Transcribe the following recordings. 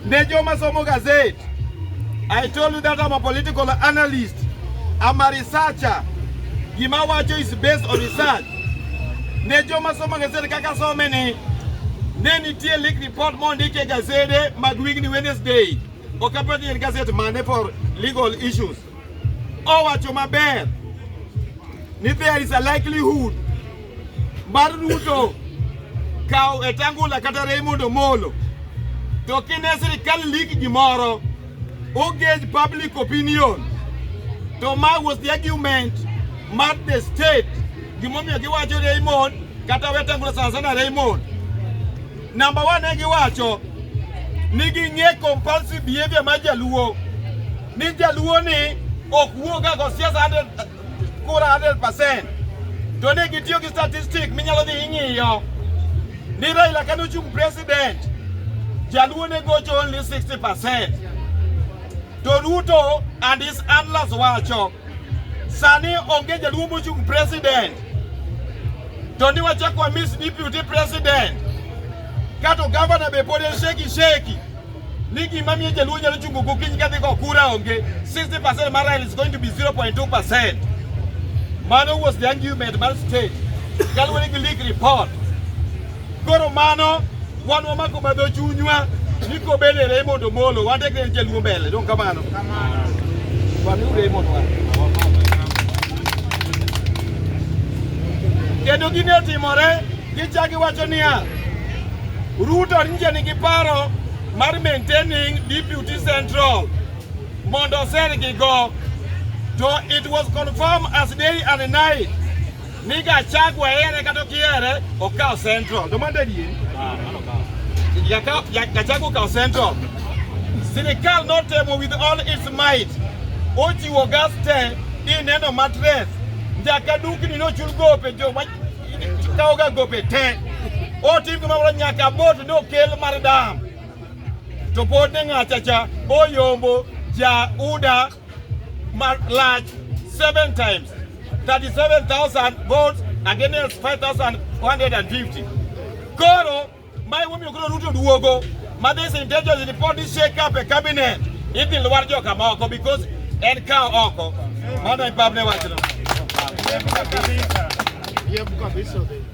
Ne joma somo gazet, I told you that I'm a political analyst. I'm a researcher. Gima wacho is based on research. Ne joma somo gazet kaka some ni, ne nitie leak report mondik e gazede mag wigni Wednesday. Ok apati en gazet mane for legal issues. Owacho maber ni there is a likelihood mar Ruto kawo Wetangula kata Raymond Omolo to kine sirikal ligi gimoro ogage public opinion to ma was the argument mar the state gimomiyo giwacho Raymond kata Wetangula sana sana Raymond Namba wa ne giwacho ni ging'e compulsive behavior mar jaluo ni jaluo ni ok wuoga go siasa 100 kura 100% to ne gitiyo gi statistic minyalo dhi ing'iyo ni Raila kane ochung' president jaluo ne gocho only 60% to Ruto and his handlers wacho Sani onge jaluo mochung' president, to ni wachako wamis deputy president, kato gavana be pod en sheki sheki ni gima miyo jaluo nyalo chungo gokinyi kadhi go kura onge 60% mar rael is going to be 0.2% mano was the argument mar state kaluwore gi leak report Koro mano wan wamako madho chunywa ni kobed e Raymond Omolo wan tekre en jaluo mbele dong kamano wamiu Raymond wa kendo gine otimore gichaki wacho niya Ruto nje nigi paro mar maintaining Deputy Central mondo osergigo to it was confirmed as day and night ni Gachagua ere kata okiere okawo central to mande die Gachagua okawo central sirikal notemo with all its might ochiwo gas te ineno matres nyaka dukni nochul gope jo kawoga gope te otim gimamoro nyaka bot nokel mar dam to pod ne ng'achacha oyombo ja uda large seven times 37,000 votes against 5,150 koro mae momiyo koro Ruto duogo ma this intelligence report is shake up a cabinet idhi lwar joka moko because en kawo oko mano e pabne wachno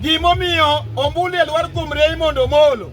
gimomiyo ombulu e lwar kuom Raymond Omolo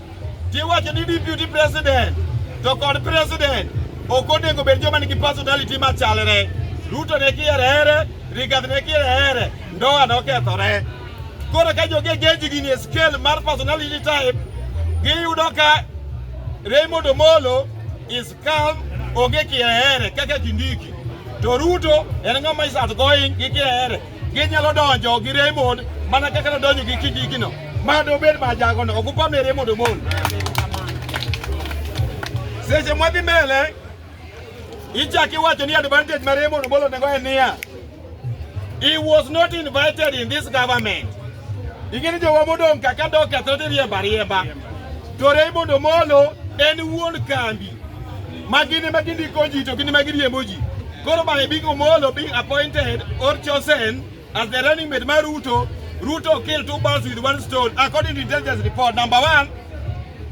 Tiwacho ni deputy president to kod president ok onego bed joma nigi personality machalre. Ruto ne kiere here, Rigathi ne kiere here, ndoa nokethore. Koro ka jogi geji gini e scale mar personality type, giyudo ka Raymond Omolo is Ka onge kiaere kaka Kindiki to Ruto en ng'ama is outgoing gi kiaere ginyalo donjo gi Raymond mana kaka nodonjo gi Kindiki no ma dobed ma jagono ok upamne Raymond Omolo seche mwadhi mbele ichaki wacho ni advantage ma Raymond Omolo nego en niya He was not invited in this government. Ingeni jo wamodong kaka dok katho to riemba riemba. To Raymond Omolo en wuon kambi. Magine magindi konji to gini magiri emoji. Koro by being Omolo being appointed or chosen as the running mate ma Ruto, Ruto killed two birds with one stone according to intelligence report. Number one,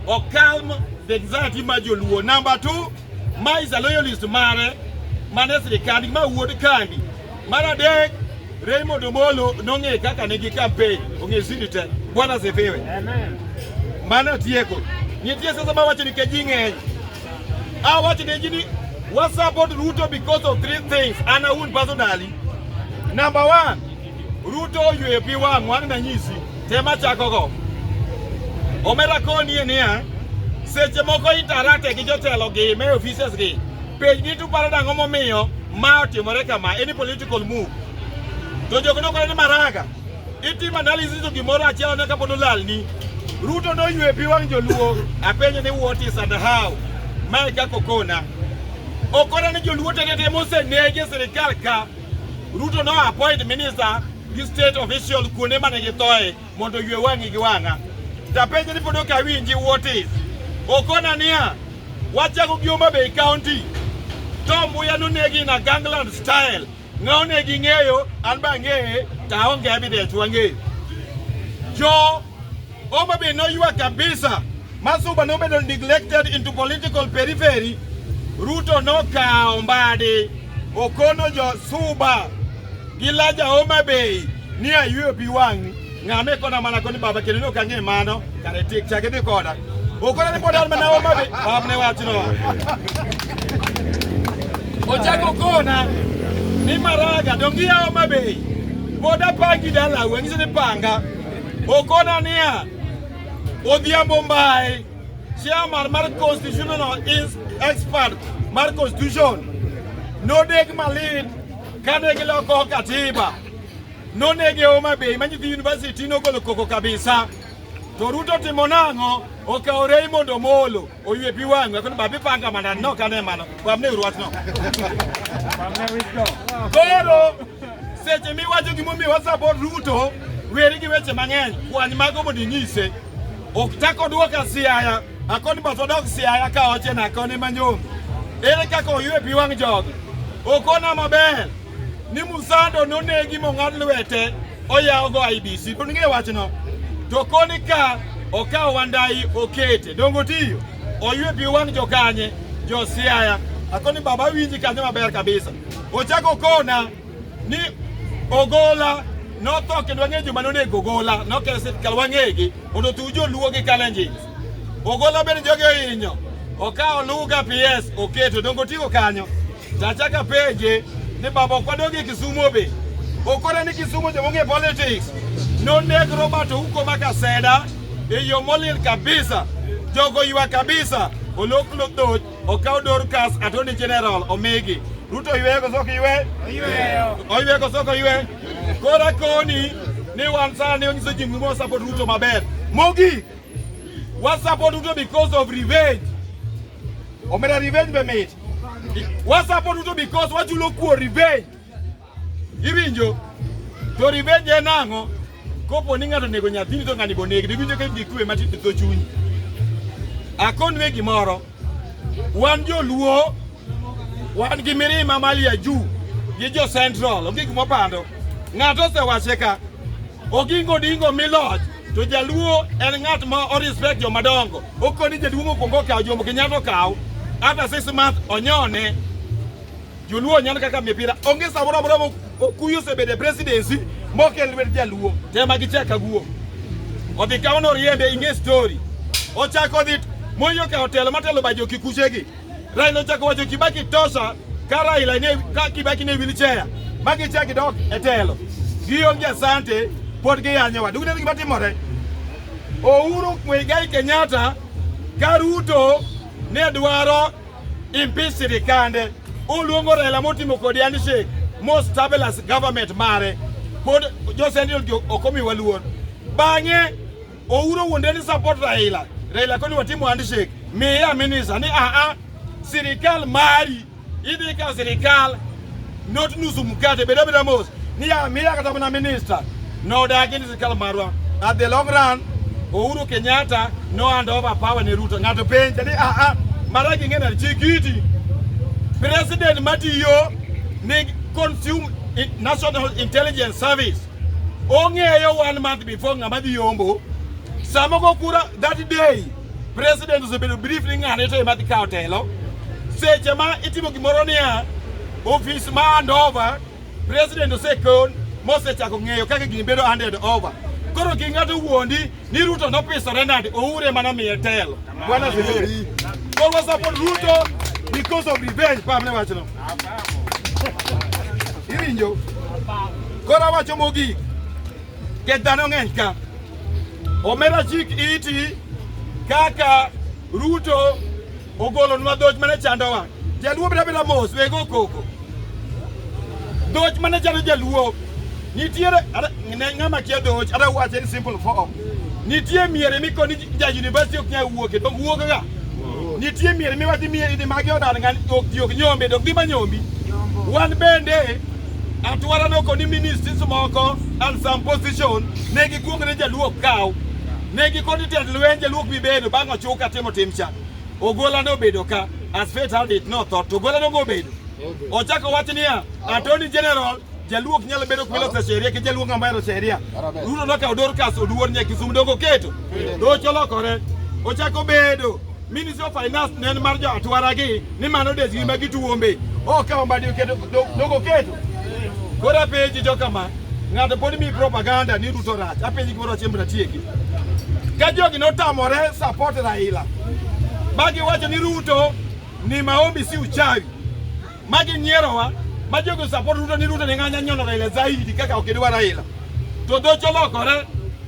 Okalm the anxiety ma joluo. Number two, ma is a loyalist mare mane sirikand ma wuod kandi mar adek Raymond Omolo nong'e kaka nigi campaign ong'e siri te bwana sifiwe mano tieko nitie sasa ma wacho ni keji ng'eny a wacho ne ji ni wa support Ruto because of three things ana un personally number one Ruto oyweyo pi wang' wang' nanyisi tema chakogo omera konie niya seche moko interacte gi jotelo gi me offices gi pej ni tuparo dang'o momiyo ma otimore kama any political move to jok nokore ni maraga itim analysis to gimoro achiel ne kapod olalni Ruto noywe pi wang' joluo apenje ni what is and how mae kako kona okona ni joluo tetete mosenege sirikal ka Ruto no appoint minister gi state official kuonde mane githoe mondo ywe wang'i gi wang'a. Tapenjo ni pod ok awinji what is. Okona niya, wachako gi Homa Bay County to mbuya nonegi na gangland style ng'awo ne gi ng'eyo an ba ang'eye to aonge evidence wang'eyo jo Homa Bay noywa kabisa. Masuba nobedo neglected into political periphery. Ruto nokawo mbadi okono jo Suba gi laja Homa Bay ni ayweyo pi wang'ni ng'ame kona mana koni baba kendo ne ok ang'e mano kare tik chake dhi koda okona ni pod an mana Homa Bay bab ne wachno ochako kona ni maraga dongiya Homa Bay pod apangi dalau ang'ise ni panga Okona niya, Odhiambo Mbae, chairman mar constitutional expert mar constitution, nodeg malit kane giloko katiba. Nonege Homa Bay ma nyithi university nogolo koko kabisa. To Ruto timo nang'o? Okawo Raymond Omolo. oywe pi wang' we kono ba bi panga manda no kane mano wamne urwatno koro seche miwacho gimomiyo wasapot ruto weri gi weche mang'eny kwany mago mondo inyise ok chak odwoka siaya akoni bas odok siaya ka oche na akoni manyom ere kaka oywe pi wang' jogi okona maber ni Musando nonegi mong'ad lwete oyawogo IBC. To ning'e wachno. To koni ka okawo Wandai okete. Dongo tiyo. Oywe pi wang' jokanye. Jo Siaya. Akoni baba winji kanyo maber kabisa. Ochako kona ni Ogola notho kendo wang'e joma nonego Ogola nokelo sirkal wang'egi mondo tuw joluo gi Kalenjins. Ogola bende jogi ohinyo. Okawo Luga PS oketo. Dongo tiyo kanyo. Tachak apenje ni baba ok wadog e Kisumo be ok ore ni Kisumo joma ong'e politics noneg Robert Ouko ma Kaseda e yo molil kabisa jogo ywa kabisa olok lodhoch okaw Dorcas Attorney General omigi Ruto oywe koso ok oywe oywe koso ok oywe koro akoni ni wan sani onyiso ji muma support Ruto maber mogik wa support Ruto because of revenge Omera revenge be mit. Wasapo duto because wachulo kuo revenge. Iwinjo? To revenge en ang'o? Kopo ni ng'ato nego nyathini to ng'ani bo negi, diwinjo ka gikwe matin to chuny. Akonwe gimoro. Wan joluo wan gi mirima malia juu gi jo central onge gimopando ng'ato osewache ka ogingo dingo miloch To jaluo en ng'at ma o respect joma dongo. Okoni jaduong' okwongo okawo Jomo Kenyatta okawo. After six months onyone. Joluo nyan kaka mipira. Onge samoro amora mo- okuyu osebedo e presidency mokel lwet jaluo. Tema gichaka guo. Odhi kawo noriembe ing'e story. Ochako odhi moyo ka otelo matelo bajo kikuchegi. Raila ochako wacho Kibaki tosa ka Raila ne ka Kibaki ne wilichea magi chaki dok e telo gionge asante pod giyanyowa duk ne gima timore Uhuru Muigai Kenyatta ka Ruto ne dwaro impeach sirikande oluongo Raila motimo kodi handshake mo stabilize government mare pod josendil ok omiwa luor bang'e Ouro wuonde ni support Raila. Raila koni watimo handshake. Miya minisa ni a ah, a ah, sirikal mari idhi ka sirikal not nusu mkate beda beda mos ni a ah, miya kata mana minister no dagi ni sirikal marwa at the long run Ouro Kenyatta no hand over power ni Ruto ngato penja ni a a mara kingena chikiti president matiyo ni consume national intelligence service Ong'eyo one month before ng'ama dhi yombo. Sama go kura that day president osebedo brief ni ng'ane to ema dhi kawo telo. Seche ma itimo gimoro niya ofis ma hand over president osekon mosechako ng'eyo kaka gini bedo handed over. Koro ki ng'ato wuondi Ni Ruto nopisa Renard Oure mana miye telo. Bwana Zimiri. So we support Ruto because of revenge pa mne wachno. Iwinjo. Kora wacho mogik. Ke dhano ng'eny ka. Omera chik iti kaka Ruto Ogolonwa dhoch mane chandowa. Jaluo bira bila mos wego koko. Dhoch mane chando jaluo. Nitiere ne ng'ama kia dhoch ada wache in simple form. Nitie miere mikoni ja university ok nyal wuoke to wuok ga. Nitie miere miwathi miere ni magi odar ngan ok jok nyombe dok dima nyombi. Wan bende atwara no koni ministries moko and some position ne gikuongre jaluo kaw. Ne gikoni tend lwenje luok bibedo bang' ochuka timo timcha. Ogola ne obedo ka as fate had it notho to Ogola nogo obedo ochako wach niya Attorney General jaluok nyalo bedo kwelo sa sheria ki jaluok ng'ama hero sheria ruto nokawo Dorcas oduor nyaka Kisumu dongo oketo docho lokore ochako bedo Ministry of Finance ne en mar jo atwaragi ni mano desgi ma gituombe okawo mbadi oketo dogo oketo Koro apenji jo kama, ng'ato pod mi propaganda ni Ruto rach. Apenji gimoro achiel mbra tieki. Ka jogi notamore support Raila. Magi wacho ni Ruto ni maombi si uchawi. Magi nyierowa. Ma jogi support Ruto ni Ruto ni ng'anya nyono Raila zaidi kaka okidwa Raila. To dhocho lokore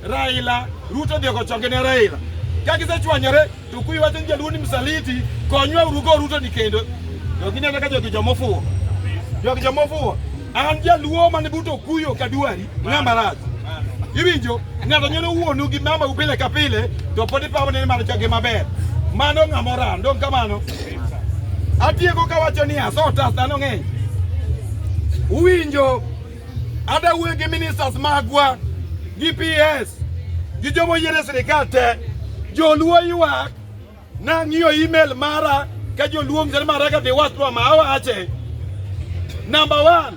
Raila, Ruto dhi okochonge ne Raila. Ka gisechwanyore Tukuyu wacho ni jaluo ni msaliti, konywa urugo Ruto ni kendo. Jogi nene ka jogi jomofuwo. Jogi jomofuwo. An jaluo mane buto kuyo kaduari ng'ama rach. Iwinjo ng'ato nyono wuonu gi mama upile ka pile to pod ipawo ni mano jogi maber. Mano ng'ama oran, ndong kamano. Atieko kawacho ni asota dhano ng'eny. Uwinjo Ada wuoyo gi ministers magwa gi PS gi joma yiere sirikal te joluo ywak nang'iyo email mara ka joluo mzere mara ka dhiwachwa ma awache number one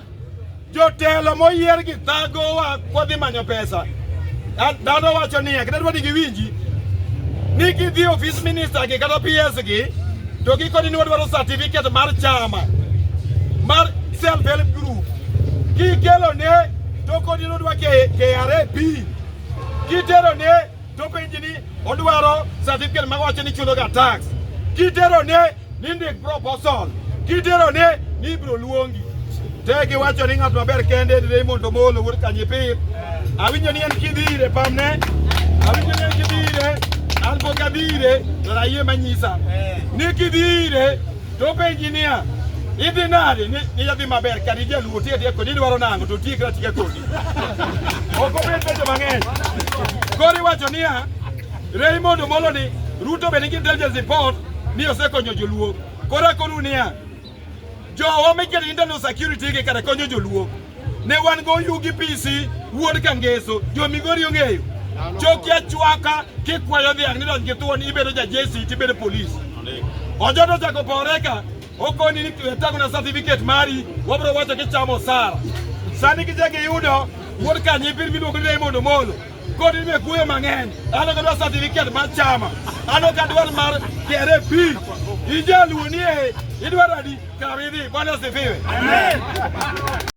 jotelo moyier gi thagowa kodhi manyo pesa Dhano wacho niya, kata dwa ni giwinji ni gidhi ofis minista gi kata PS gi to gikoni ni wadwaro certificate mar chama mar self help group kikelo ne to kodi ni odwa KRA pin kitero ne to penji ni odwaro certificate ma wacho ni chuloga tax kitero ne Nindik proposal kiterone ni ibiro luongi te giwacho ni ng'at maber kende ni Raymond Omolo wuod Kanyipir. Awinjo ni en kidhi ire pamne, awinjo ni en kidhi ire, an pok adhi ire to ayie manyisa ni kidhi ire to penji niya idhi nade ni idhi maber kata ijaluo tiye tiye kodi idwaro nang'o to tiye kata tiye kodi ok obed penjo mang'eny koro iwacho niya Raymond Omolo ni Ruto be nigi intelligence report ni osekonyo joluo. Koro akonu niya, jowa mekere internal security gi kare konyo joluo. Ne wan go yugi pisi wuod kangeso jo migori ong'eyo choki achwaka kikwayo dhiang' nidonj gi thuon ibedo ja jesi tibedo polis ojoto ochako pore ka okoni ni tango na certificate mari wabro wacho kichamo sara sani kichako iyudo wuod kanyo ipir miluongo ni Raymond Omolo Kodi me kuyo mang'eny, ano ka dwa certificate mar chama, ano ka dwar mar kere pi. Ijaluo nie, idwaro adi? Kaw idhi, Bwana asifiwe. Amen.